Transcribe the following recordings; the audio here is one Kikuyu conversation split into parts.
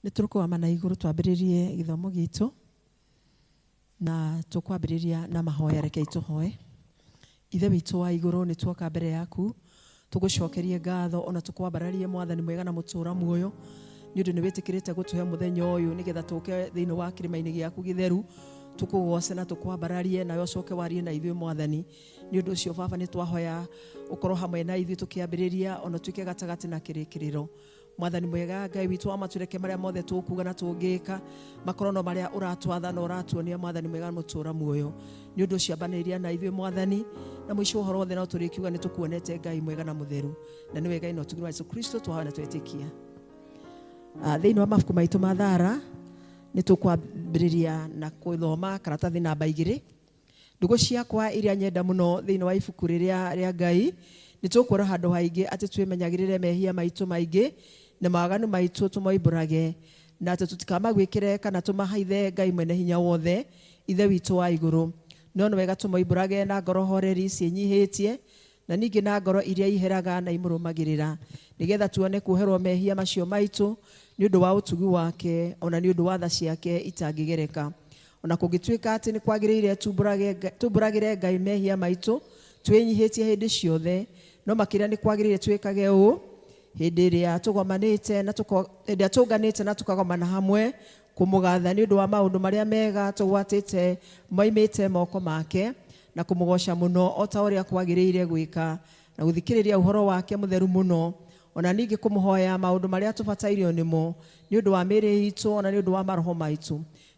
nĩ tũrũkũgama na igũrũ twambĩrĩrie gĩthomo gitũ na tũkwambĩrĩria na mahoya rekei tũhoe ithe witũ wa igũrũ nĩ tuoka mbere yaku tũgũcokerie ngatho ona tũkwambararie mwathani mwega na mũtũra muoyo nĩ ũndũ nĩ wĩtĩkĩrĩte gũtũhe mũthenya ũyũ nĩgetha tũke thĩinĩ wa kĩrĩma-inĩ gĩaku gĩtheru tũkũgoce na tũkwambararie nawe ũcoke warie na ithuĩ mwathani nĩ ũndũ ũcio baba nĩ twahoya ũkorwo hamwe na ithuĩ tũkĩambĩrĩria ona tuĩke gatagatĩ na kĩrĩkĩrĩro mwathani mwega ngai witũ wa matũreke marĩa mothe tũkuga na tũngĩka makorwo no marĩa ũratwatha na ũratuonia mwathani mwega mũtũra muoyo nĩ ũndũ ũciambanĩria na ithuĩ mwathani na mũico ũhoro wothe no tũrĩkiuga nĩ tũkuonete ngai mwega na mũtheru na nĩ wega ino tugirwa jesu kristo twahoya na twetĩkia Ah, thĩinĩ wa mabuku maitũ ma thara nĩ tũkwambĩrĩria na gũthoma karatathi namba igĩrĩ Ndũgũ ciakwa iria nyenda mũno thĩinĩ wa ibuku rĩrĩa rĩa Ngai, nĩ tũkuona handũ haingĩ atĩ twĩmenyagĩrĩre mehia maitũ maingĩ na mawaganu maitũ tũmoimbũrage, na atĩ tũtikamagwĩkĩre kana tũmahaithe Ngai Mwene-Hinya-Wothe, Ithe witũ wa igũrũ. No nĩ wega tũmoimbũrage na ngoro horeri ciĩnyihĩtie, na ningĩ na ngoro iria iheraga na imũrũmagĩrĩra, nĩgeetha tuone kuoherwo mehia macio maitũ nĩ ũndũ wa ũtugi wake, o na nĩ ũndũ wa tha ciake itangĩgereka. O na kũngĩtuĩka atĩ nĩ kwagĩrĩire tumbũrage tumbũragĩre Ngai mehia maitũ twĩnyihĩtie hĩndĩ ciothe, no makĩria nĩ kwagĩrĩire twĩkage ũũ hĩndĩ ĩrĩa tũgomanĩte na tũko hĩndĩ ĩrĩa tũnganĩte na tũkagomana hamwe Kũmũgatha nĩ ũndũ wa maũndũ marĩa mega tũgwatĩte moimĩte moko make, na kũmũgooca mũno o ta ũrĩa kwagĩrĩire gwĩka, na gũthikĩrĩria ũhoro wake mũtheru mũno, o na ningĩ kũmũhoya maũndũ marĩa tũbatairio nĩmo, nĩ ũndũ wa mĩĩrĩ iitũ o na nĩ ũndũ wa maroho maitũ.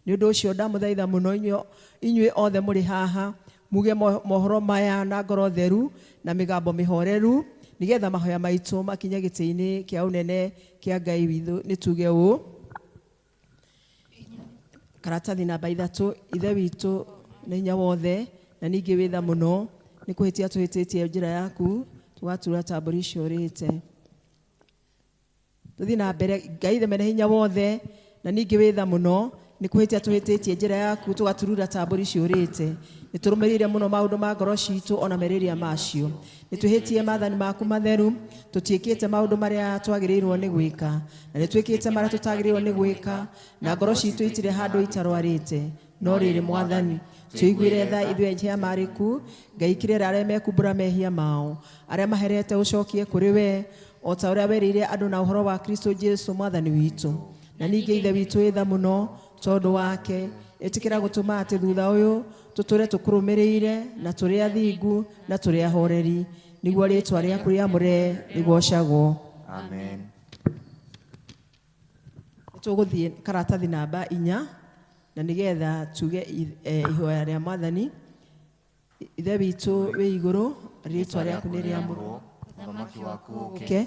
Nĩ ũndũ ũcio ndamũthaitha mũno inyuĩ inyuĩ othe mũrĩ haha, Muge mohoro maya na ngoro theru na mĩgambo mĩhoreru, nĩgeetha mahoya maitũ makinye gĩtĩ-inĩ kĩa ũnene kĩa Ngai witũ. Nĩtuge ũũ, Karatathi namba ithatũ, Ithe witũ na hinya wothe, na ningĩ wĩ tha mũno, nĩ kũhĩtia tũhĩtĩtie njĩra yaku, tũgatura ta mbũri ciũrĩte. Tũthiĩ na mbere. Ngai ithe mene hinya wothe na ningĩ wĩ tha mũno, nĩ kũhĩtia tũhĩtĩtie njĩra yaku tũgaturura ta mbũri ciũrĩte. Nĩ tũrũmĩrĩire mũno maũndũ ma ngoro citũ o na merirĩria macio. Nĩ twĩhĩtie maathani maku matheru, tũtiĩkĩte maũndũ marĩa twagĩrĩirwo nĩ gwĩka, na nĩ twĩkĩte marĩa tũtagĩrĩirwo nĩ gwĩka, na ngoro citũ itirĩ handũ itarwarĩte. no rĩrĩ mwathani tũiguĩre tha ithuĩ enje ya marĩku ngai kirĩra arĩa mekumbũra mehia mao arĩa maherete ũcokie kũrĩ we o ta ũrĩa werĩire andũ na ũhoro wa kristo jesu mwathani witũ na ningĩ ithe witũ wĩ tha mũno tondũ wake ĩtĩkĩra gũtũma atĩ thutha ũyũ tũtũre tũkũrũmĩrĩire na tũrĩ athingu na tũrĩ ahoreri nĩguo rĩtwa rĩaku rĩamũre rĩgocagwo amen tũgũthiĩ karatathi namba inya na nĩgetha tuge i- eh, ihoya rĩa mwathani ithe witũ wĩ igũrũ rĩtwa rĩaku nĩ rĩamũrwo ũthamaki waku ũke ke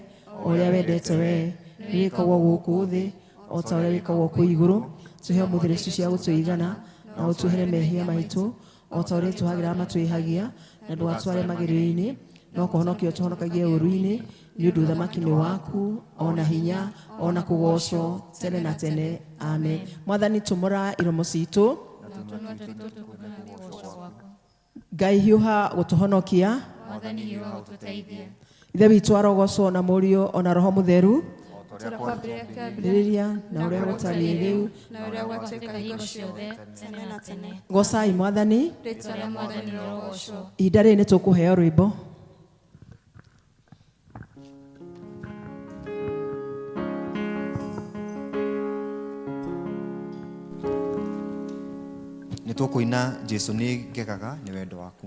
o ũrĩa wendete wee nĩ wĩkagwo gũkũ thĩ o ta ũrĩa wĩkagwo kũ igũrũ tũhe mũthĩrĩcu cia gũtũigana na ũtũhere mehia maitũ o ta ũrĩa tũhagĩra matwĩhagia na ndũgatware magerio-inĩ no kũhonokia ũtũhonokagie ũru-inĩ nĩ ũndũ ũthamaki nĩ waku o na hinya o na kũgocwo tene na tene amen mwathani tumũra iromo citũ ngai hiũha gũtũhonokia mwathani hiũha ũtũteithie ithe witũ arogocwo na mũriũ ona roho mũtheru Tũra kwambĩrĩria kĩambĩrĩria rĩrĩria na ũrĩa gũtariĩ rĩu na ũrĩa gwatuĩka hingo ciothe tene na tene gocai mwathani rĩtwa rĩa mwathani rĩrogocwo ihinda rĩrĩ nĩ tũkũheo rwĩmbo nĩ tũkũina jesu nĩ ngegaga nĩ wendo waku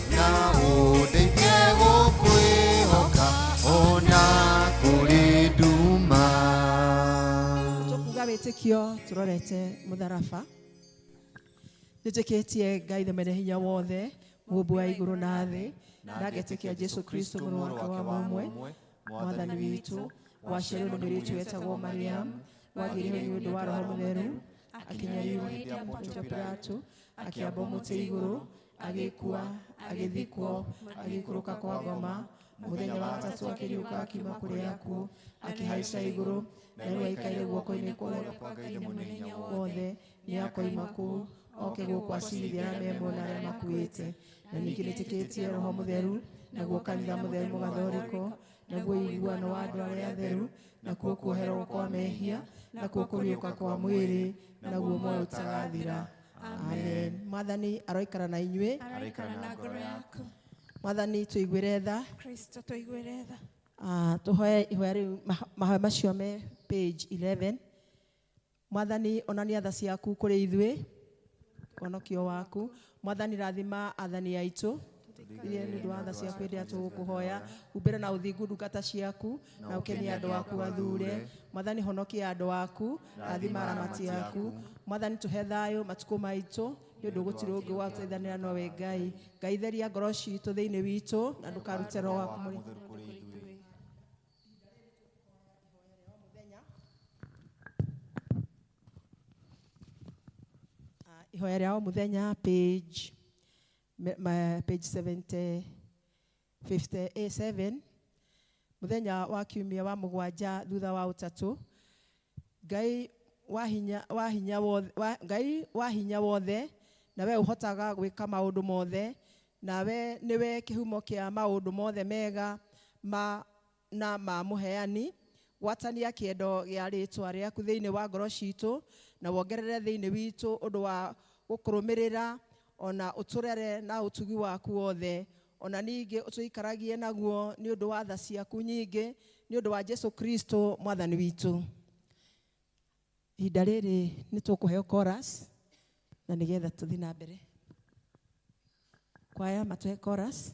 na ũndeithie gũkwĩhoka ona kũrĩ nduma tũkuga wĩtĩkio tũrorete mũtharaba nĩ njĩkĩtie ngai the mene hinya wothe mũmbu wa igũrũ na thĩ na ngetĩkia jesu kristo mũrũ wake wa mũmwe mwathani witũ waciarwo nĩ mũirĩtu wetagwo mariamu wagĩrĩirwo nĩ ũndũ wa roho mũtheru akinyariirwo hĩndĩ ya pontio pilato akĩamba mũtĩ igũrũ agĩkua agĩthikwo agĩikũrũka kwa ngoma mũthenya wa gatatũ akĩriũka akiuma kũrĩ akuũ akĩhaica igũrũ na rĩu aikaire guoko-inĩ kwa ũrĩa kwa ngai mũnene hinya wothe nĩ akoima kũu oke gũkũ acirithia arĩa me muoyo na arĩa makuĩte na ningĩ nĩtĩkĩtie roho mũtheru naguo kanitha mũtheru mũgathorĩkwo naguo iguano wa andũ arĩa atheru nakuo kuoherwo kwa mehia nakuo kũriũka kwa mwĩrĩ naguo moyo ũtagathira amen mwathani aroikara na inyuĩ araikara na ngoro yaku mwathani tũiguĩre tha kristo tũiguĩre tha Ah, tũhoe ihoya rĩu maho- mahoya macio me page 11 mwathani onania tha ciaku kũrĩ ithuĩ ũhonokio waku mwathani rathima athani aitũ tũthikĩrĩrie nĩ ũndũ wa tha ciaku hĩndĩ ĩrĩa tũgũkũhoya umbĩre na ũthingu ndungata ciaku na ũkenie andũ aku athure mwathani honokia andũ aku rathima aramati aku mwathani tũhe thayũ matukũ maitũ nĩ ũndũ gũtirĩ ũngĩ wa gũteithanĩra nowe ngai ngai theria ngoro citũ thĩinĩ witũ na ndũkarute roho waku mũrĩ Mũtheru kũrĩ ithuĩ. Ah, ihoya rĩa o mũthenya page Ma, page 70, 57 mũthenya wa kiumia wa mũgwanja thutha wa ũtatũ ngai wa hinya, wa hinya wothe, wa, ngai wa hinya wothe nawe ũhotaga gwĩka maũndũ mothe nawe nĩwe kĩhumo kĩa maũndũ mothe mega ma na ma Mũheani, gwatania kĩendo gĩa rĩĩtwa rĩaku thĩinĩ wa ngoro ciitũ, na wongerere thĩinĩ witũ ũndũ wa gũkũrũmĩrĩra, o na ũtũrere na ũtugi waku wothe, o na ningĩ ũtũikaragie naguo nĩ ũndũ wa tha ciaku nyingĩ, nĩ ũndũ wa Jesu Kristo Mwathani witũ. Ihinda rĩrĩ nĩ tũkũheo chorus na nĩgetha tũthiĩ na mbere. Kwaya matũhe chorus.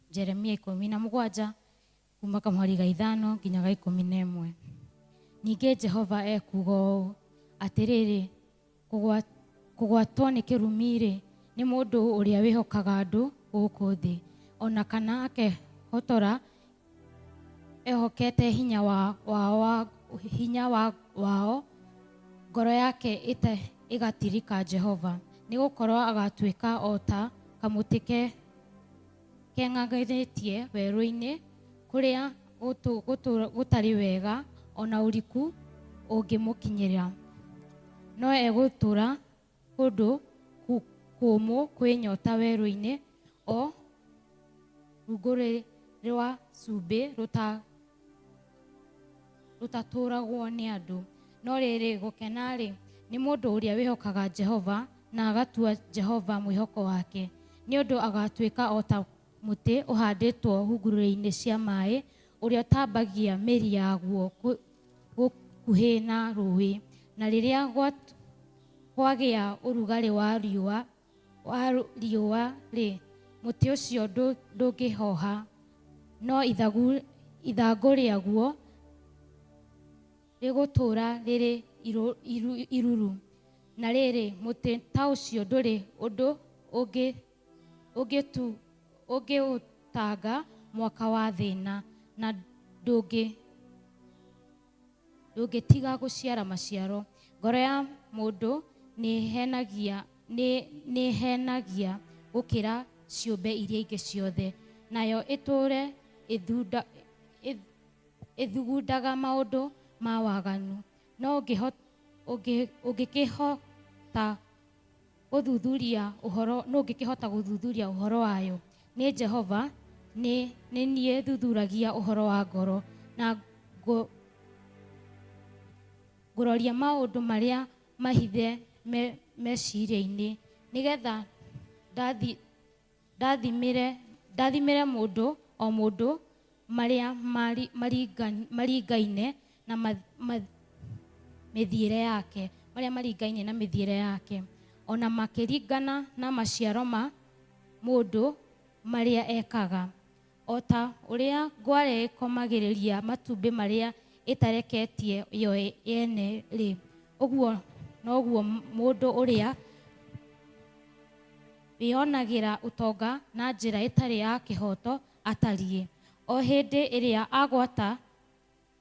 Jeremia ikũmi na mũgwanja kuma kamweri ga ithano nginya ga ikũmi na ĩmwe ningĩ jehova ekuga ũũ atĩrĩrĩ "Kũgwa- kũgwatwo nĩ kĩrumi-rĩ nĩ mũndũ ũrĩa wĩhokaga andũ gũkũ thĩ ona kana akehotora ehokete hinya wa, wa, wa, hinya wa, wao ngoro yake ĩte, ĩgatirika jehova nĩ gũkorwo agatuĩka o ta kamũtĩ ke Keng'ang'ithĩtie werũ-inĩ kũrĩa gũtũ- gũtũ- gũtarĩ wega, o na ũriku ũngĩmũkinyĩra. No egũtũũra kũndũ kũ- kũũmũ kwĩ nyoota werũ-inĩ, o rungu rũĩ rwa cumbĩ rũta- rũtatũũragwo nĩ andũ no rĩrĩ gũkena-rĩ nĩ mũndũ ũrĩa wĩhokaga jehova na agatua jehova mwĩhoko wake nĩ ũndũ agatuĩka o ta mũtĩ ũhandĩtwo hungurũrĩ-inĩ cia maĩ ũrĩa ũtambagia mĩri yaguo gũkuhĩ na rũĩ na rĩrĩa kwagĩa ũrugarĩ wa riũa wa riũa-rĩ, mũtĩ ũcio ndũngĩhoha, no ithagu rĩaguo rĩgũtũũra rĩrĩ iruru. Na rĩrĩ, mũtĩ ta ũcio ndũrĩ ũndũ ũngĩũtanga mwaka wa thĩna, na ndũngĩũtiihia. ndũngĩtiga gũciara maciaro. Ngoro ya mũndũ nĩĩhenagia, nĩ, nĩĩhenagia gũkĩra ciũmbe iria ingĩ ciothe, nayo ĩtũũre ĩthunda, ĩ, ĩthugundaga maũndũ ma waganu. No ũngĩho, ũngĩ, ũngĩkĩhota Gũthuthuria ũhoro, nũ ũngĩkĩhota gũthuthuria ũhoro wayo? Nĩ Jehova, nĩ, nĩ niĩ thuthuragia ũhoro wa ngoro, na ngũ, ngũroria maũndũ marĩa mahithe me, meciria-inĩ, nĩgetha ndathi, Ndathimĩre, ndathimĩre mũndũ o mũndũ marĩa mari, maringa, maringaine na ma, ma, mĩthiĩre yake, marĩa maringaine na mĩthiĩre yake, o na makĩringana na maciaro ma mũndũ marĩa ekaga. O ta ũrĩa ngware ĩkomagĩrĩria matumbĩ marĩa ĩtareketie yo yene-rĩ, ũguo noguo mũndũ ũrĩa wĩonagĩra ũtonga na njĩra ĩtarĩ ya kĩhooto atariĩ. O hĩndĩ ĩrĩa agwata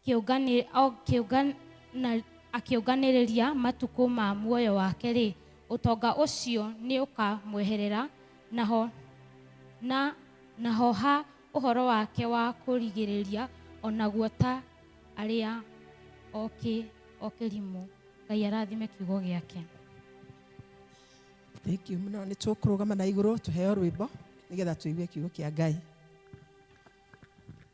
kĩũngani- o kĩũngan- na- akĩũnganĩrĩria matukũ ma muoyo wake-rĩ, ũtonga ũcio nĩũkamweherera, naho na naho ha ũhoro wake wa kũrigĩrĩria o naguo ta arĩa okĩ o kĩrimũ. Ngai arathime kiugo gĩake. Thank you mũno nĩ tũkũrũgama na igũrũ tũheo rwĩmbo nĩgetha tũigue kiugo kĩa Ngai.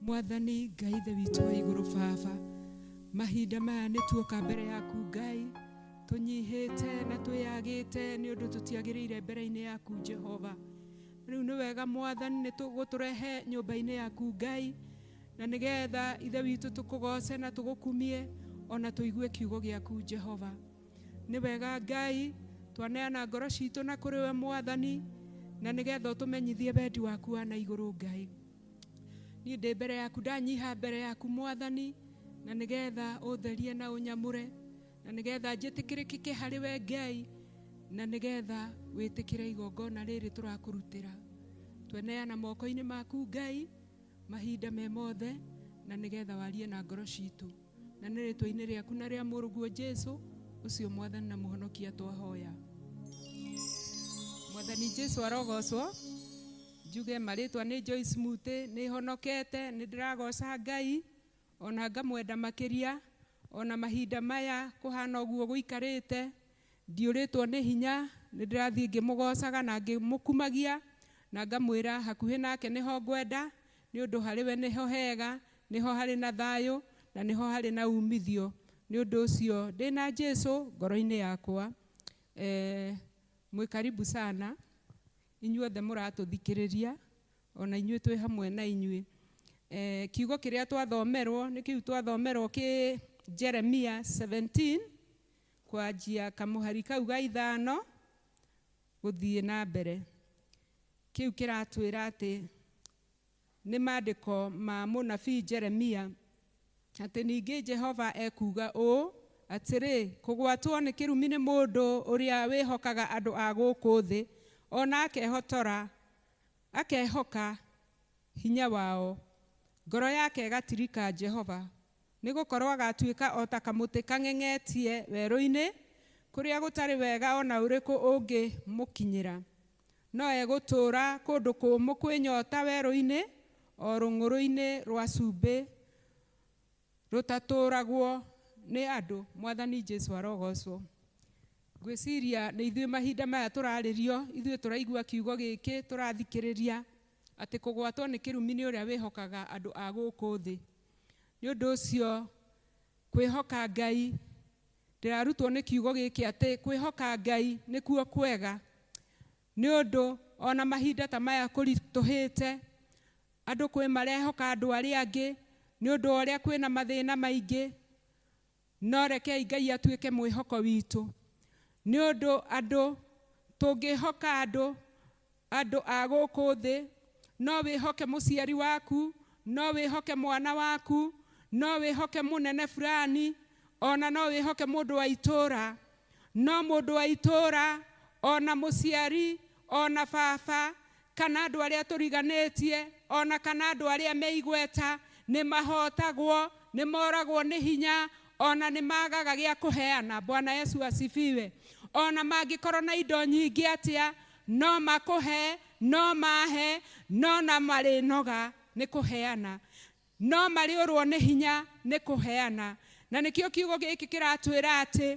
mwathani ngai ithe witũ wa igũrũ baba mahinda maya nĩ tuoka mbere yaku ngai tũnyihĩte na twĩyagĩte nĩ ũndũ tũtiagĩrĩire mbere-inĩ yaku jehova rĩu nĩ wega mwathani nĩ gũtũrehe nyũmba-inĩ yaku ngai na nĩgetha ithe witũ tũkũgoce na tũgũkumie ona tũigue kiugo gĩaku jehova nĩ wega ngai twaneana ngoro citũ na kũrĩ we mwathani na nĩgetha ũtũmenyithie wendi waku wa na igũrũ ngai niĩ ndĩ mbere yaku ndanyiha mbere yaku mwathani na nĩgetha ũtherie na ũnyamũre na nĩgetha njĩtĩkĩrĩkĩke harĩ we ngai na nĩgetha wĩtĩkĩre igongona rĩrĩ tũrakũrutĩra tweneana moko-inĩ maku ngai mahinda me mothe na nĩgetha warie na ngoro citũ na nĩ rĩtwa-inĩ rĩaku na rĩa mũrũguo jesu ũcio mwathani na mũhonokia twahoya mwathani jesu arogocwo Njuge marĩtwa nĩ Joyce Mutĩ, nĩhonokete, nĩndĩragoca Ngai, ona ngamwenda makĩria, ona mahinda maya kũhana ũguo gũikarĩte, ndiũrĩtwo nĩ hinya, nĩndĩrathiĩ ngĩmũgocaga na ngĩmũkumagia, na ngamwĩra hakuhĩ nake nĩho ngwenda, nĩũndũ harĩ we nĩho hega, nĩho harĩ na thayũ, na nĩho harĩ na umithio, nĩ ũndũ ũcio ndĩ na Jesũ ngoro-inĩ yakwa. Mwĩ karibu sana. Inyuothe mũratũthikĩrĩria, o na inyuĩ twĩ hamwe na inyuĩ. Kiugo kĩrĩa twathomerwo nĩ kĩu twathomerwo kĩ Jeremia seventeen, kwanjia kamũhari kau ga ithano gũthiĩ na mbere. Kĩu kĩratwĩra atĩ Nĩ maandĩko ma mũnabii Jeremia, atĩ ningĩ Jehova ekuuga ũũ, atĩrĩ, Kũgwatwo nĩ kĩrumi nĩ mũndũ ũrĩa wĩhokaga andũ a gũkũ thĩ, o na akehotora, akehoka hinya wao, ngoro yake ĩgatirika Jehova. Nĩ gũkorũo agaatuĩka o ta kamũtĩ kang'eng'etie werũ-inĩ, kũrĩa gũtarĩ wega o na ũrĩkũ ũngĩmũkinyĩra. No egũtũũra kũndũ kũũmũ kwĩ nyoota werũ-inĩ, o rũng'ũrũ-inĩ rwa cumbĩ rũtatũũragwo nĩ andũ. Mwathani Jesu arogoocwo. Ngwĩciria nĩ ithuĩ mahinda maya tũrarĩrio, ithuĩ tũraigua kiugo gĩkĩ, tũrathikĩrĩria, atĩ kũgwatwo nĩ kĩrumi nĩ ũrĩa wĩhokaga andũ a gũkũ thĩ. Nĩ ũndũ ũcio, kwĩhoka Ngai Ndĩrarutwo nĩ kiugo gĩkĩ atĩ kwĩhoka Ngai nĩkuo kwega, nĩ ũndũ o na mahinda ta maya kũritũhĩte, andũ kwĩ marehoka andũ arĩa angĩ nĩ ũndũ wa ũrĩa kwĩna mathĩna maingĩ, no rekei Ngai atuĩke mwĩhoko witũ, nĩ ũndũ andũ, tũngĩhoka andũ, Andũ a gũkũ thĩ, no wĩhoke mũciari waku, no wĩhoke mwana waku, no wĩhoke mũnene fulani, o na no wĩhoke mũndũ wa itũũra. No mũndũ wa itũũra, o na mũciari, o na baba, kana andũ arĩa tũriganĩtie, o na kana andũ arĩa me igweta, nĩ mahootagwo, nĩ moragwo nĩ hinya, o na nĩ maagaga gĩa kũheana. Bwana Yesu asifiwe. O na mangĩkorwo na indo nyingĩ atĩa, No makũhe, no maahe, no na marĩnoga nĩ kũheana, no marĩũrwo nĩ hinya nĩ kũheana. Na nĩkĩo kiugo gĩkĩ kĩratwĩra atĩ,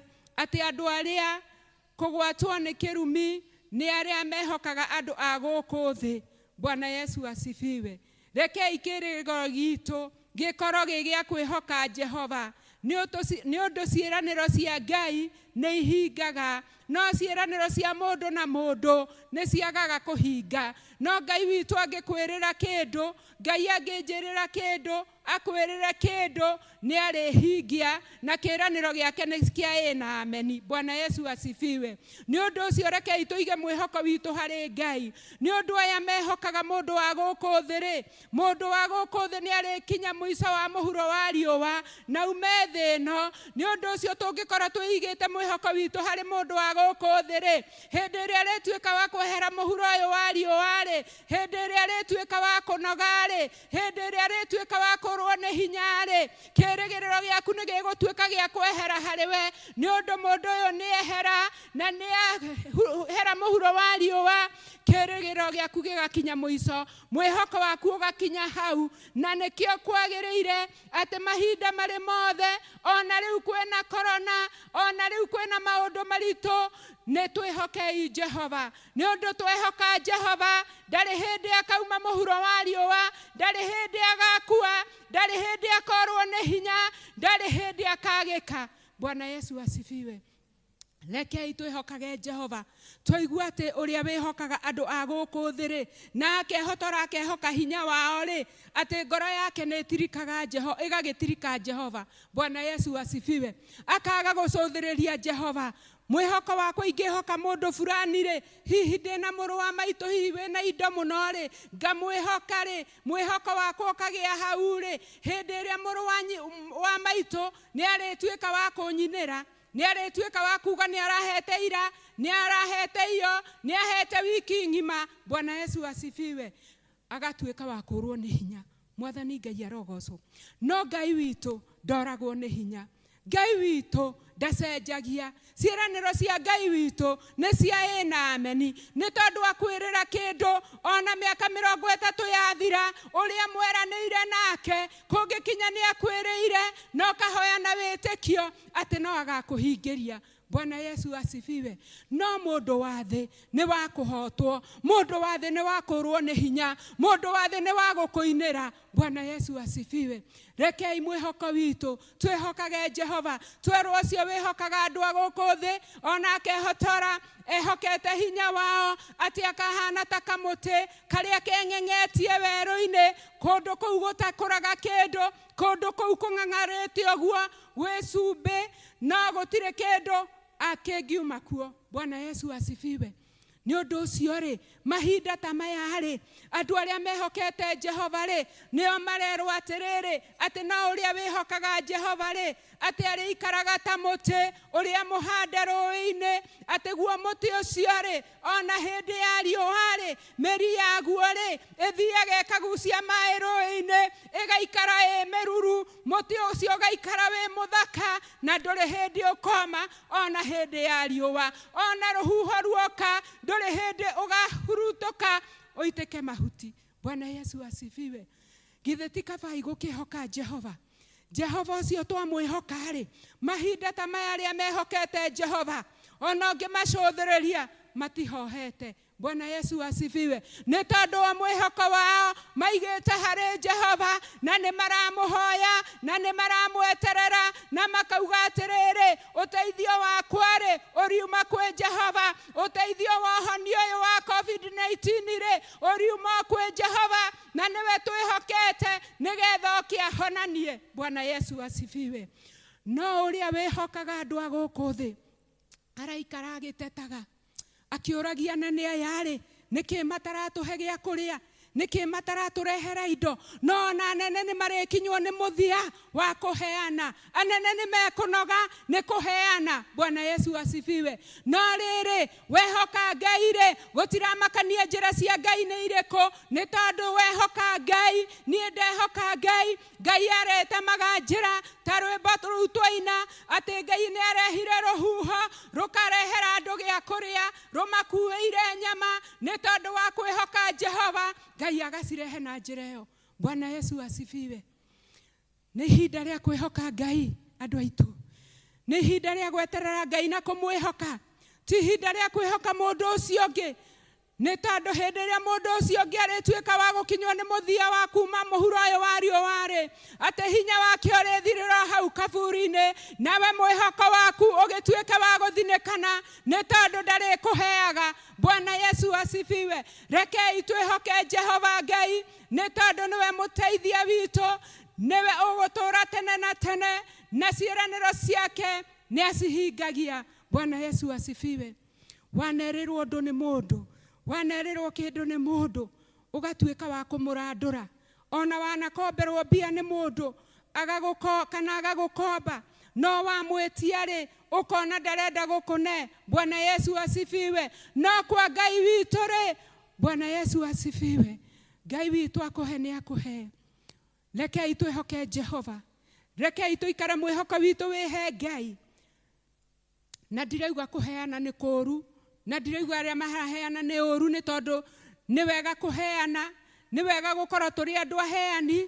atĩ andũ arĩa kũgwatwo nĩ kĩrumi nĩ arĩa mehokaga andũ a gũkũ thĩ. Bwana Yesu asifiwe. Rekei kĩĩrĩgĩrĩro giitũ gĩkorũo gĩ gĩa kwĩhoka Jehova, nĩ ũndũ ciĩranĩro cia Ngai nĩ ihingaga, no ciĩranĩro cia mũndũ na mũndũ nĩ ciagaga kũhinga. No Ngai witũ angĩkwĩrĩra kĩndũ, Ngai angĩnjĩrĩra kĩndũ, akwĩrĩre kĩndũ, Nĩarĩhingia, na kĩĩranĩro gĩake nĩ kĩa ĩĩ na ameni. Bwana Yesu asifiwe. Nĩ ũndũ ũcio rekei tũige mwĩhoko witũ harĩ Ngai. Nĩ ũndũ aya mehokaga mũndũ wa gũkũ thĩ-rĩ, mũndũ wa gũkũ thĩ nĩarĩkinya mũico wa mũhuro wa riũa, na ume thĩ ĩno. Nĩ ũndũ ũcio tũngĩkorwo twĩigĩte mwĩhoko witũ harĩ mũndũ wa gũkũ thĩ-rĩ, hĩndĩ ĩrĩa arĩtuĩka wa kwehera mũhuro ũyũ wa riũa-rĩ, hĩndĩ ĩrĩa arĩtuĩka wa kũnoga-rĩ, hĩndĩ ĩrĩa rĩtuĩka wa kũrũo nĩ hinya-rĩ kĩrĩgĩrĩro gĩaku nĩ gĩgũtuĩka gĩa kwehera harĩ we nĩ ũndũ mũndũ ũyũ nĩ ehera na nĩ ehera mũhuro wa riũa kĩrĩgĩrĩro gĩaku gĩgakinya mũico mwĩhoko waku ũgakinya hau na nĩkĩo kwagĩrĩire atĩ mahinda marĩ mothe ona rĩu kwĩna korona ona rĩu kwĩna maũndũ maritũ nĩ twĩhokei Jehova Nĩ ũndũ twehoka Jehova, ndarĩ hĩndĩ akauma mũhuro wa riũa, ndarĩ hĩndĩ agakua, ndarĩ hĩndĩ akorwo nĩ hinya, ndarĩ hĩndĩ akagĩka. Bwana Yesu asifiwe. Rekei twĩhokage Jehova. Twaigua atĩ ũrĩa wĩhokaga andũ a gũkũ thĩ-rĩ, na akehotora akehoka hinya wao-rĩ, atĩ ngoro yake nĩ ĩtirikaga Jeho, ĩgagĩtirika Jehova. Bwana Yesu asifiwe. Akaga gũcũthĩrĩria Jehova. Mwĩhoko wakwa ingĩhoka mũndũ fulani-rĩ, hihi ndĩ na mũrũ wa maitũ hihi wĩ na indo mũno-rĩ, ngamwĩhoka-rĩ, mwĩhoko wakwa ũkagĩa hau-rĩ, hĩndĩ ĩrĩa mũrũ wa, wa maitũ nĩarĩtuĩka wa kũnyinĩra, nĩarĩtuĩka wa kuuga nĩarahete ira, nĩarahete iyo, nĩahete wiki ng'ima. Bwana Yesu asifiwe. Agatuĩka wa kũũrwo nĩ hinya. Mwathani Ngai arogoocwo. No Ngai witũ ndooragwo nĩ hinya. Ngai witũ ndacenjagia. Ciĩranĩro cia Ngai witũ nĩ cia ĩĩ na ameni. Nĩ tondũ akwĩrĩra kĩndũ, o na mĩaka mĩrongo ĩtatũ yathira, ũrĩa mweranĩire nake, kũngĩkinya nĩ akwĩrĩire, na ũkahoya na wĩtĩkio, atĩ no agakũhingĩria. Bwana Yesu asifiwe. No mũndũ wa thĩ nĩ wa kũhotwo, mũndũ wa thĩ nĩ wa kũrwo nĩ hinya, mũndũ wa thĩ nĩ wa gũkũinĩra. Bwana Yesu asifiwe. Rekei mwĩhoko witũ twĩhokage Jehova, twerwo ũcio wĩhokaga andũ a gũkũ thĩ, o na akehotora, ehokete hinya wao, atĩ akahana ta kamũtĩ karĩa keng'eng'etie werũ-inĩ, kũndũ kũu gũtakũraga kĩndũ, kũndũ kũu kũng'ang'arĩte ũguo gwĩ cumbĩ, No gũtirĩ kĩndũ a, kĩngiuma kuo. Bwana Yesu asifiwe. Nĩ ũndũ ũcio-rĩ, mahinda ta maya-rĩ, andũ arĩa mehokete Jehova-rĩ, nĩo marerwo atĩrĩrĩ, atĩ no ũrĩa wĩhokaga Jehova-rĩ, atĩ arĩikaraga ta mũtĩ ũrĩa mũhande rũĩ-inĩ, atĩ guo mũtĩ ũcio-rĩ, O na hĩndĩ ya riũa-rĩ, mĩri yaguo-rĩ, ĩthiiaga ĩkagucia maĩ rũũĩ-inĩ, ĩgaikara ĩ mĩruru, mũtĩ ũcio ũgaikara wĩ mũthaka, na ndũrĩ hĩndĩ ũkooma o na hĩndĩ ya riũa. O na rũhuho ruoka, ndũrĩ hĩndĩ ũkahurutũka ũitĩke mahuti. Bwana Yesu asifiwe! Githĩ ti kabai gũkĩĩhoka Jehova? jehova ũcio twamwĩhoka-rĩ mahinda ta maya arĩa mehokete jehova ona ũngĩmacũthĩrĩria matihohete bwana yesu asifiwe nĩ tondũ wa mwĩhoko wao maigĩte harĩ jehova na nĩ maramũhoya na nĩ maramweterera na makauga atĩrĩrĩ ũteithio wakwa-rĩ ũriuma kwĩ jehova ũteithio wa ũhoni ũyũ wa covid-19-rĩ ũriuma kwĩ jehova na nĩwe twĩhokete nĩgetha oke ahonanie bwana yesu asifiwe no ũrĩa wĩhokaga andũ a gũkũ thĩ araikara agĩtetaga akĩũragia na nĩ ayarĩ nĩkĩ mataratũhe gĩa kũrĩa nĩkĩ mataratũrehera indo no na anene nĩ marĩkinywo nĩ mũthia wa kũheana Anene nĩmekũnoga nĩ kũheana. Bwana Yesu asifiwe. No rĩrĩ, wehoka Ngai-rĩ, gũtiramakania njĩra cia Ngai nĩ irĩkũ, nĩ tondũ wehoka Ngai, niĩ ndehoka Ngai. Ngai arĩtemaga njĩra, ta rwĩmbo rũu twaina, atĩ Ngai nĩarehire rũhuho, rũkarehera andũ gĩa kũrĩa, rũmakuĩire nyama, nĩ tondũ wa kwĩhoka Jehova, Ngai agacirehe na njĩra ĩyo. Bwana Yesu asifiwe. Nĩ ihinda rĩa kwĩhoka Ngai, andũ aitũ. Nĩ ihinda rĩa gweterera Ngai na kũmwĩhoka. Ti ihinda rĩa kwĩhoka mũndũ ũcio ũngĩ, nĩ tondũ hĩndĩ ĩrĩa mũndũ ũcio ũngĩ arĩtuĩka wa gũkinywo nĩ mũthia wa kuma mũhuro ũyũ wa riũa-rĩ, atĩ hinya wake ũrĩthirĩra o hau kaburi-inĩ, nawe mwĩhoko waku ũgĩtuĩke wa gũthinĩkana, nĩ tondũ ndarĩkũheaga. Bwana Yesu asifiwe. Rekei twĩhoke Jehova Ngai, Nĩ tondũ nĩwe mũteithia witũ, nĩwe ũgũtũũra tene na tene, na ciĩranĩro ciake nĩ acihingagia. Bwana Yesu asifiwe. Wanerĩrwo ũndũ nĩ mũndũ, wanerĩrwo kĩndũ nĩ mũndũ, ũgatuĩka wa kũmũrandũra. Ona wanakomberwo mbia nĩ mũndũ, agagũko, kana agagũkomba, no wamwĩtia-rĩ, ũkona ndarenda gũkũne. Bwana Yesu asifiwe. No kwa Ngai witũ-rĩ, Bwana Yesu asifiwe. Ngai witũ akũhe nĩ akũhe. Rekei twĩhoke Jehova. Rekei tũikare mwĩhoko witũ wĩhe Ngai. Na ndiraigua kũheana nĩ kũũru, na ndiraigua arĩa maraheana nĩ ũũru nĩ tondũ nĩ wega kũheana, nĩ wega gũkorwo tũrĩ andũ aheani.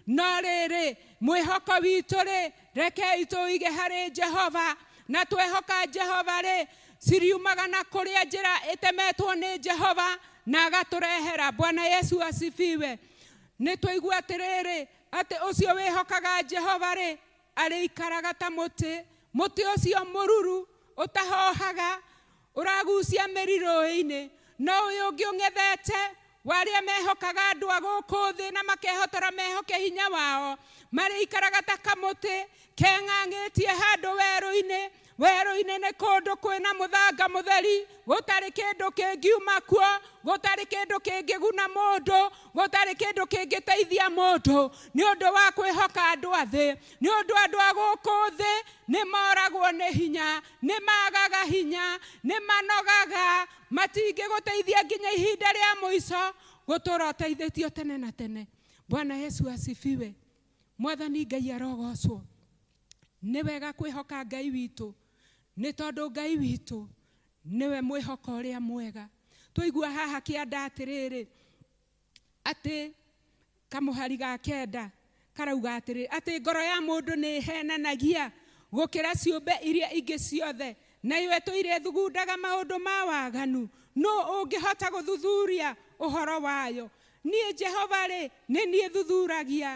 No rĩrĩ, mwĩhoko witũ-rĩ, rekei tũũige harĩ Jehova, na twehoka Jehova-rĩ, ciriumaga na kũrĩa njĩra ĩtemetwo nĩ Jehova na agatũrehera. Bwana Yesu asifiwe. Nĩ twaigua atĩrĩrĩ, atĩ ũcio wĩhokaga Jehova-rĩ, arĩikaraga ta mũtĩ, mũtĩ ũcio mũruru ũtahoohaga, ũragucia mĩri rũũĩ-inĩ, no ũyũ ũngĩ ũng'ethete, wa arĩa mehokaga andũ a gũkũ thĩ na makehotora mehoke hinya wao, marĩikaraga ta kamũtĩ keng'ang'ĩtie handũ werũ-inĩ, Werũ-inĩ nĩ kũndũ kwĩ na mũthanga mũtheri, gũtarĩ kĩndũ kĩngiuma kuo, gũtarĩ kĩndũ kĩngĩguna mũndũ, gũtarĩ kĩndũ kĩngĩteithia mũndũ, nĩ ũndũ wa kwĩhoka andũ a thĩ. Nĩ ũndũ andũ a gũkũ thĩ nĩ moragwo nĩ hinya, nĩ maagaga hinya, nĩ manogaga, matingĩgũteithia nginya ihinda rĩa mũico, gũtũũra ũteithĩtio tene na tene. Bwana Yesu asifiwe. Mwathani Ngai arogocwo. Nĩ wega kwĩhoka Ngai witũ nĩ tondũ Ngai witũ nĩwe mwĩhoko ũrĩa mwega. Twaigua haha kĩanda atĩrĩrĩ, atĩ kamũhari ga kenda karauga atĩrĩrĩ, atĩ ngoro ya mũndũ nĩ ĩhenanagia gũkĩra ciũmbe iria ingĩ ciothe, nayo ĩtũire thugundaga maũndũ ma waganu. Nũ ũngĩhota gũthuthuria ũhoro wayo? Niĩ Jehova-rĩ, nĩ niĩ thuthuragia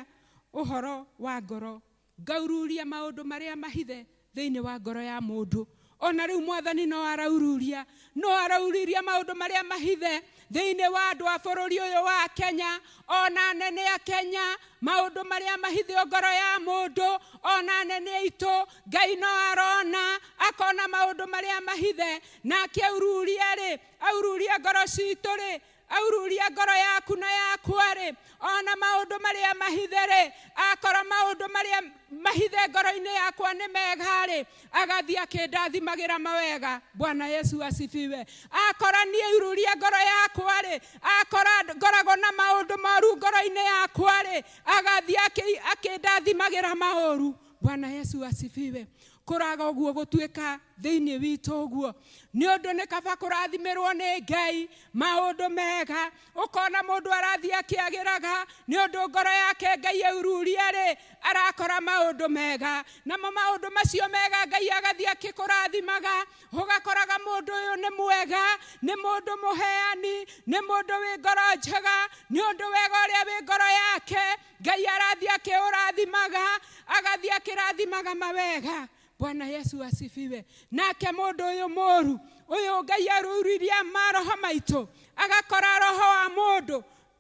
ũhoro wa ngoro Ngaururia maũndũ marĩa mahithe thĩinĩ wa ngoro ya mũndũ. O na rĩu Mwathani no araururia, no arauriria maũndũ marĩa mahithe thĩinĩ wa andũ a bũrũri ũyũ wa Kenya, o na anene a Kenya, maũndũ marĩa mahithio ngoro ya mũndũ, o na anene aitũ, Ngai no arona, akona maũndũ marĩa mahithe, na akĩaururia-rĩ, aururia ngoro citũ-rĩ, aururia ngoro yaku na yakwa-rĩ ona maũndũ marĩa mahithe-rĩ akorwo maũndũ marĩa mahithe ngoro-inĩ yakwa nĩ mega-rĩ agathiĩ akĩndathimagĩra mawega bwana yesu asifiwe akorwo niĩ aururia ngoro yakwa-rĩ akorwo ngoragwo na maũndũ moru ngoro-inĩ yakwa-rĩ agathiĩ akĩndathimagĩra maũru bwana yesu asifiwe kũraga ũguo gũtuĩka thĩinĩ witũ ũguo nĩ ũndũ nĩ kaba kũrathimĩrwo nĩ ngai maũndũ mega ũkona mũndũ arathiĩ akĩagĩraga nĩ ũndũ ngoro yake ngai aururia rĩ arakora maũndũ mega namo maũndũ macio mega ngai agathiĩ akĩkũrathimaga ũgakoraga mũndũ ũyũ nĩ mwega nĩ mũndũ mũheani nĩ mũndũ wĩ ngoro njega nĩ ũndũ wega ũrĩa wĩ ngoro yake ngai arathiĩ akĩũrathimaga agathiĩ akĩrathimaga mawega bwana yesu asifiwe nake mũndũ ũyũ mũru ũyũ ngai arurithia maroho maitũ agakora roho wa mũndũ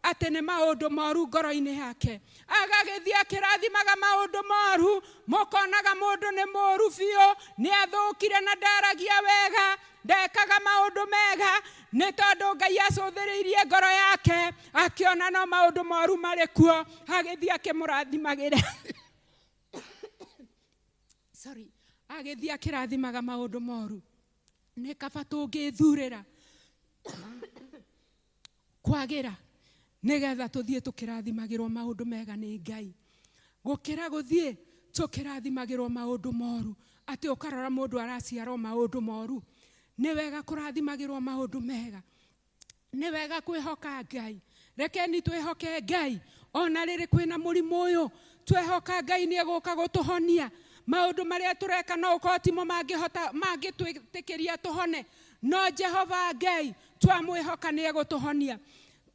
atĩ nĩ maũndũ moru ngoro-inĩ yake agagĩthiĩ akĩrathimaga maũndũ moru mũkonaga mũndũ nĩ mũru biũ nĩ athũkire na ndaragia wega ndekaga maũndũ mega nĩ tondũ ngai acũthĩrĩirie ngoro yake akĩona no maũndũ moru marĩ kuo agĩthiĩ akĩmũrathimagĩre sorry agĩthiĩ akĩrathimaga maũndũ moru nĩ kaba tũngĩthurĩra kwagĩra nĩgetha tũthiĩ tũkĩrathimagĩrwo maũndũ mega nĩ ngai gũkĩra gũthiĩ tũkĩrathimagĩrwo maũndũ moru atĩ ũkarora mũndũ araciarwo maũndũ moru nĩ wega kũrathimagĩrwo maũndũ mega nĩ wega kwĩhoka ngai rekeni twĩhoke ngai ona rĩrĩ kwĩna mũrimũ ũyũ twehoka ngai nĩ egũka gũtũhonia maũndũ marĩa tũreka no ũkorwo timo mangĩhota mangĩtwĩtĩkĩria tũhone no jehova ngai twamwĩhoka nĩ egũtũhonia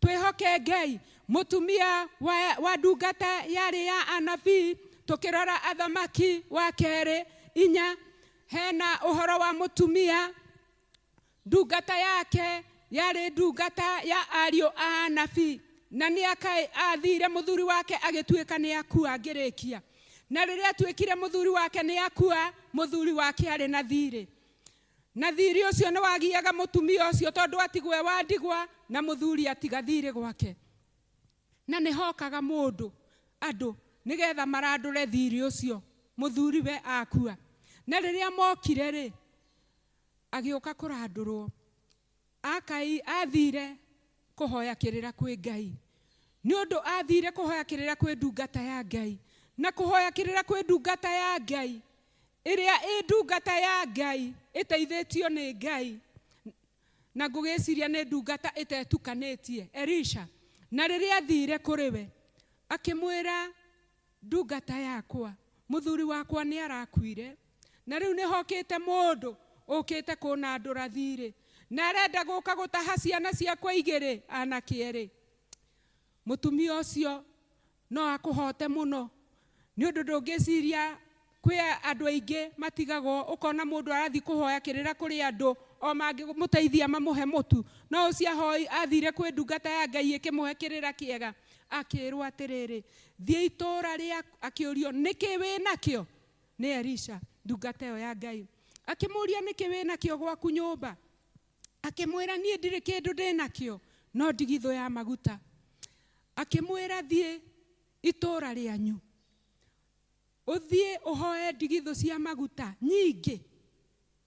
twĩhoke ngai mũtumia wa, wa ndungata yarĩ ya anabii tũkĩrora athamaki wa kerĩ inya hena ũhoro wa mũtumia Ndungata yake yarĩ ndungata ya ariũ a anabii, na nĩ akaĩ aathiire mũthuri wake agĩtuĩka nĩ akua ngĩrĩkia. Na rĩrĩa atuĩkire mũthuri wake nĩ akua, mũthuri wake arĩ na thiirĩ. Na thiirĩ ũcio nĩ wagiaga mũtumia ũcio tondũ atigwo e wa ndigwa na mũthuri atiga thiirĩ gwake. Na nĩ hokaga mũndũ, andũ, nĩ getha marandũre thiirĩ ũcio mũthuri we akua. Na rĩrĩa mokire-rĩ, agĩũka kũrandũrwo. Akai aathiire kũhoya kĩrĩra kwĩ Ngai, nĩ ũndũ aathiire kũhoya kĩrĩra kwĩ ndungata ya Ngai, na kũhoya kĩrĩra kwĩ ndungata ya Ngai, ĩrĩa ĩ ndungata ya Ngai, ĩteithĩtio nĩ Ngai, na ngũgĩciria nĩ ndungata ĩtetukanĩtie, Elisha. Na rĩrĩa aathiire kũrĩ we, akĩmwĩra, Ndungata yakwa, mũthuri wakwa nĩarakuire, na rĩu nĩhokĩte mũndũ ũkĩte kũnandũra thiirĩ, na arenda gũũka gũtaha ciana ciakwa igĩrĩ, aanake eerĩ. Mũtumia ũcio no akũhoote mũno, nĩ ũndũ ndũngĩciiria Kwĩ andũ aingĩ matigagwo, ũkona mũndũ arathiĩ kũhoya kĩrĩra kũrĩ andũ, o mangĩmũteithia mamũhe mũtu. No ũcio ahoi, athire kwĩ ndungata ya Ngai ĩkĩmũhe kĩrĩra kĩega, akĩĩrwo atĩrĩrĩ, thiĩ itũũra rĩa, akĩũrio, nĩkĩ wĩ nakĩo? nĩ Elisha, ndungata ĩyo ya Ngai. Akĩmũũria, nĩkĩ wĩ nakĩo gwaku nyũmba? Akĩmwĩra, niĩ ndirĩ kĩndũ ndĩ nakĩo, no ndigithũ ya maguta. Akĩmwĩra, thiĩ itũũra rĩanyu. Ũthiĩ ũhooe ndigithũ cia maguta nyingĩ.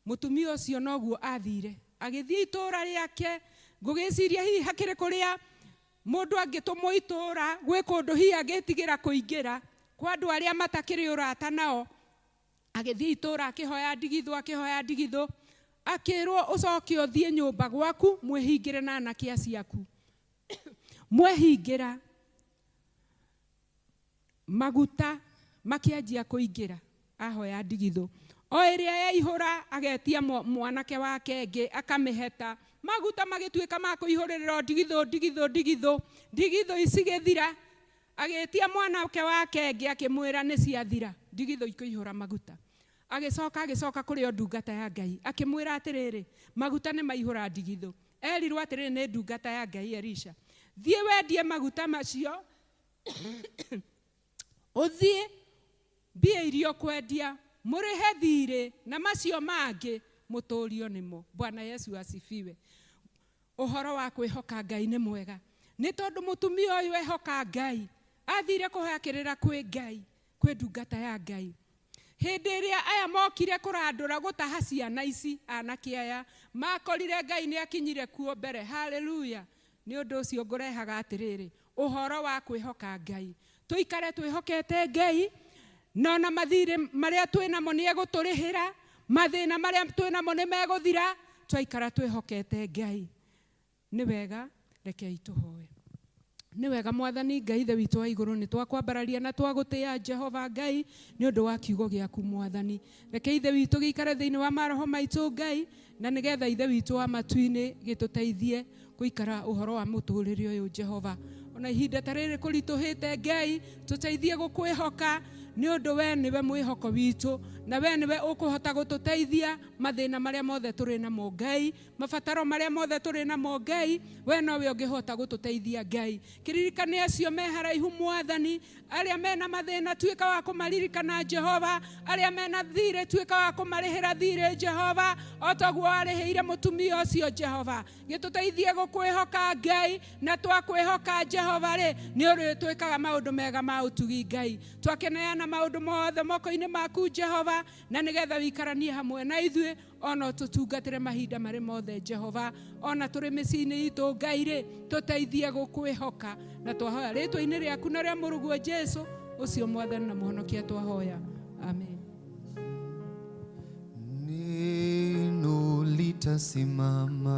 Mũtumia ũcio noguo aathiire. Agĩthiĩ itũũra rĩake, ngũgĩciria hihi hakĩrĩ kũrĩa mũndũ angĩtũmwo itũũra, gwĩ kũndũ hihi angĩĩtigĩra kũingĩra, kwa andũ arĩa matakĩrĩ ũrata nao. Agĩthiĩ itũũra akĩhooya ndigithũ, akĩhooya ndigithũ, akĩĩrwo, Ũcoke ũthiĩ nyũmba gwaku, mwĩhingĩre na anake acio aku. Mwehingĩra. maguta makĩanjia kũingĩra ahoya ndigithũ o ĩrĩa yaihũra agetia mwanake wake ĩngĩ akamĩheta maguta magĩtuĩka ma kũihũrĩrĩrwo ndigithũ ndigithũ ndigithũ ndigithũ ici gĩthira agĩtia mwanake wake ĩngĩ akĩmwĩra nĩ ciathira ndigithũ ikũihũra maguta agĩcoka agĩcoka kũrĩ o ndungata ya ngai akĩmwĩra atĩrĩrĩ maguta nĩ maihũra ndigithũ erirwo atĩrĩrĩ nĩ ndungata ya ngai erisha thiĩ wendie maguta macio ũthiĩ mbia iria ũkwendia mũrĩhe thirĩ na macio mangĩ mũtũrio nĩmo bwana yesu asifiwe ũhoro wa kwĩhoka ngai nĩ mwega nĩ tondũ mũtumia ũyũ ehoka ngai athire kũhakĩrĩra kwĩ ngai kwĩ ndungata ya ngai hĩndĩ ĩrĩa aya mokire kũrandũra gũtaha ciana ici anake aya makorire ngai nĩ akinyire kuo mbere haleluya Nĩ ũndũ ũcio ngũrehaga atĩrĩrĩ, ũhoro wa kwĩhoka Ngai. Tũikare twĩhokete Ngai, na o na mathiirĩ marĩa twĩ namo nĩ egũtũrĩhĩra, mathĩna marĩa twĩ namo nĩ megũthira, twaikara twĩhokete Ngai. Nĩ wega, rekei tũhoe. Nĩ wega Mwathani Ngai Ithe witũ wa igũrũ, nĩ twakwambararia na twagũtĩĩa Jehova Ngai, nĩ ũndũ wa kiugo gĩaku Mwathani. Reke Ithe witũ gĩikare thĩinĩ wa maroho maitũ Ngai, na nĩgetha Ithe witũ wa matuinĩ gĩtũteithie gũikara ũhoro wa mũtũrĩre ũyũ Jehova. Ona ihinda ta rĩrĩ kũritũhĩte Ngai, tũteithie gũkwĩhoka nĩ ũndũ we nĩwe mwĩhoko witũ na we nĩwe ũkũhota gũtũteithia mathĩna marĩa mothe tũrĩ namo Ngai. mabataro marĩa mothe tũrĩ namo ngai we nowe ũngĩhota gũtũteithia ngai kĩririkane acio me haraihu mwathani arĩa mena mathĩna tuĩka wa kũmaririkana jehova arĩa mena thirĩ tuĩka wa kũmarĩhĩra thirĩ jehova o toguo warĩhĩire mũtumia ũcio jehova gĩtũteithie gũkwĩhoka ngai na twakwĩhoka jehova rĩ nĩ ũrĩ twĩkaga maũndũ mega ma ũtugi ngai twakeneana maũndũ mothe moko-inĩ maku jehova na nĩgetha wĩikaranie hamwe na ithuĩ o no tũtungatĩre mahinda marĩ mothe jehova o na tũrĩ mĩciĩ-inĩ itũ ngai rĩ tũteithie gũkwĩhoka na twahoya rĩtwa-inĩ rĩaku na rĩa mũrũguo jesu ũcio mwathani na mũhonokia twahoya amen Neno litasimama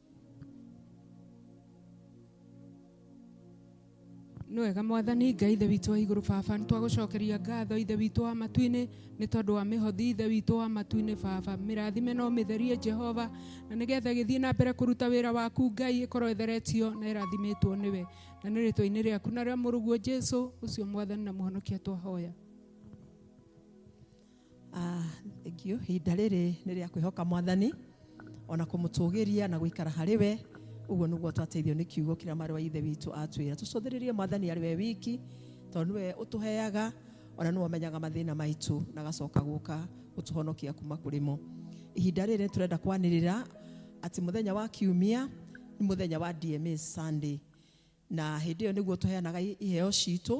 nĩ wega mwathani ngai ithe witũ wa igũrũ baba nĩ twagũcokeria ngatho ithe witũ wa matu-inĩ nĩ tondũ wa mĩhothi ithe witũ wa matu-inĩ baba mĩrathime no mĩtherie jehova na nĩgetha gĩthiĩ na mbere kũruta wĩra waku ngai ĩkorwo ĩtheretio na ĩrathimĩtwo nĩwe na nĩ rĩtwa-inĩ rĩaku na rĩa mũrũguo jesu ũcio mwathani na mũhonokia twahoya Ah, thank you ihinda rĩrĩ nĩ rĩa kwĩhoka mwathani ona kũmũtũgĩria na gũikara harĩ we ũguo nĩguo twateithio nĩ kiugo kĩrĩa marĩ wa ithe witũ atwĩra tũcũthĩrĩrie mwathani arĩ we wiki tondũ nĩwe ũtũheaga ona nĩwe ũmenyaga mathĩna maitũ na agacoka gũka gũtũhonokia kuma kũrĩ mo ihinda rĩrĩ tũrenda kwanĩrĩra atĩ mũthenya wa kiumia nĩ mũthenya wa DMA Sunday Na hĩndĩ ĩyo nĩguo tũheanaga iheo ciitũ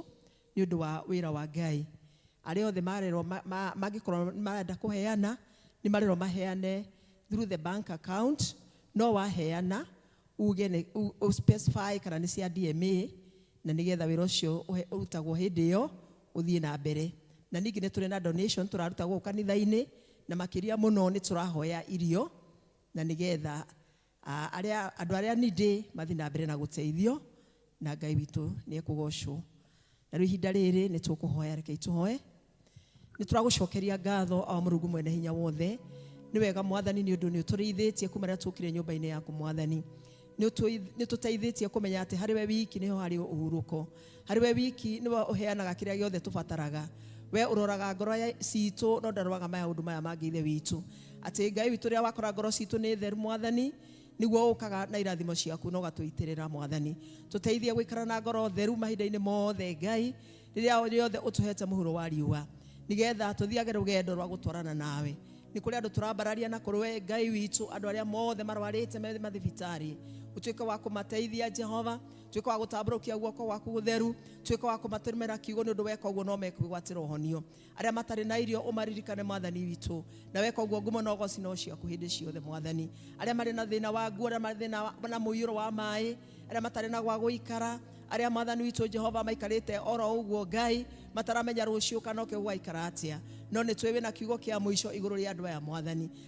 nĩ ũndũ wa wĩra wa Ngai. Arĩa othe marerwo mangĩkorwo nĩ marenda kũheana, nĩ marerwo maheane through the bank account. No waheana uuge nĩ ũ specify kana nĩ cia DMA, na nĩgetha wĩra ũcio ũrutagwo hĩndĩ ĩyo ũthiĩ na mbere. Na ningĩ nĩ tũrĩ na donation tũraruta gũkũ kanitha-inĩ, na makĩria mũno nĩ tũrahoya irio na nĩgetha Aa, arĩa, andũ arĩa ni ndĩ mathiĩ na mbere na gũteithio, na Ngai witũ nĩ ekũgocwo. Na rĩu ihinda rĩrĩ nĩ tũkũhoya, rekei tũhoe. Nĩ tũragũcokeria ngatho, o Mũrungu mwene hinya wothe. Nĩ wega Mwathani nĩ ũndũ nĩ ũtũrĩithĩtie kuma rĩrĩa tũkire nyũmba-inĩ yaku Mwathani. Nĩ ũtũi- nĩ ũtũteithĩtie kũmenya atĩ harĩ we wiki nĩho harĩ ũhurũko. harĩ we wiki nĩwe ũheanaga kĩrĩa gĩothe tũbataraga we ũroraga ngoro ya- citũ no ndaroraga maya ũndũ maya mangĩ ithe witũ atĩ ngai witũ rĩrĩa wakora ngoro citũ nĩ theru mwathani nĩguo ũkaga na irathimo ciaku na ũgatũitĩrĩra mwathani tũteithie gũikara na ngoro theru mahinda-inĩ mothe ngai rĩrĩa rĩothe ũtũhete mũhuro wa riũa nĩgetha tũthiage rũgendo rwa gũtwarana nawe nĩ kũrĩ andũ tũrambararia na kũrĩ we ngai witũ andũ arĩa mothe marwarĩte me mathibitarĩ ũtuĩke wa kũmateithia jehova tuĩka wa gũtambũrũkia guoko gwaku gũtheru tuĩka wa kũmatũmĩra kiugo nĩ ũndũ weka ũguo no mekwĩgwatĩra ũhonio arĩa matarĩ na irio ũmaririkane mwathani witũ na weka ũguo ngumo na ũgoci no ciaku hĩndĩ ciothe mwathani arĩa marĩ na thĩna wa nguo arĩa marĩ thĩna wa- na mũiyũro wa maĩ arĩa matarĩ na gwa gũikara arĩa mwathani witũ jehova maikarĩte oro ũguo ngai mataramenya rũciũ kana ũke gũgaikara atĩa no nĩ twĩ wĩna kiugo kĩa mũico igũrũ rĩa andũ aya mwathani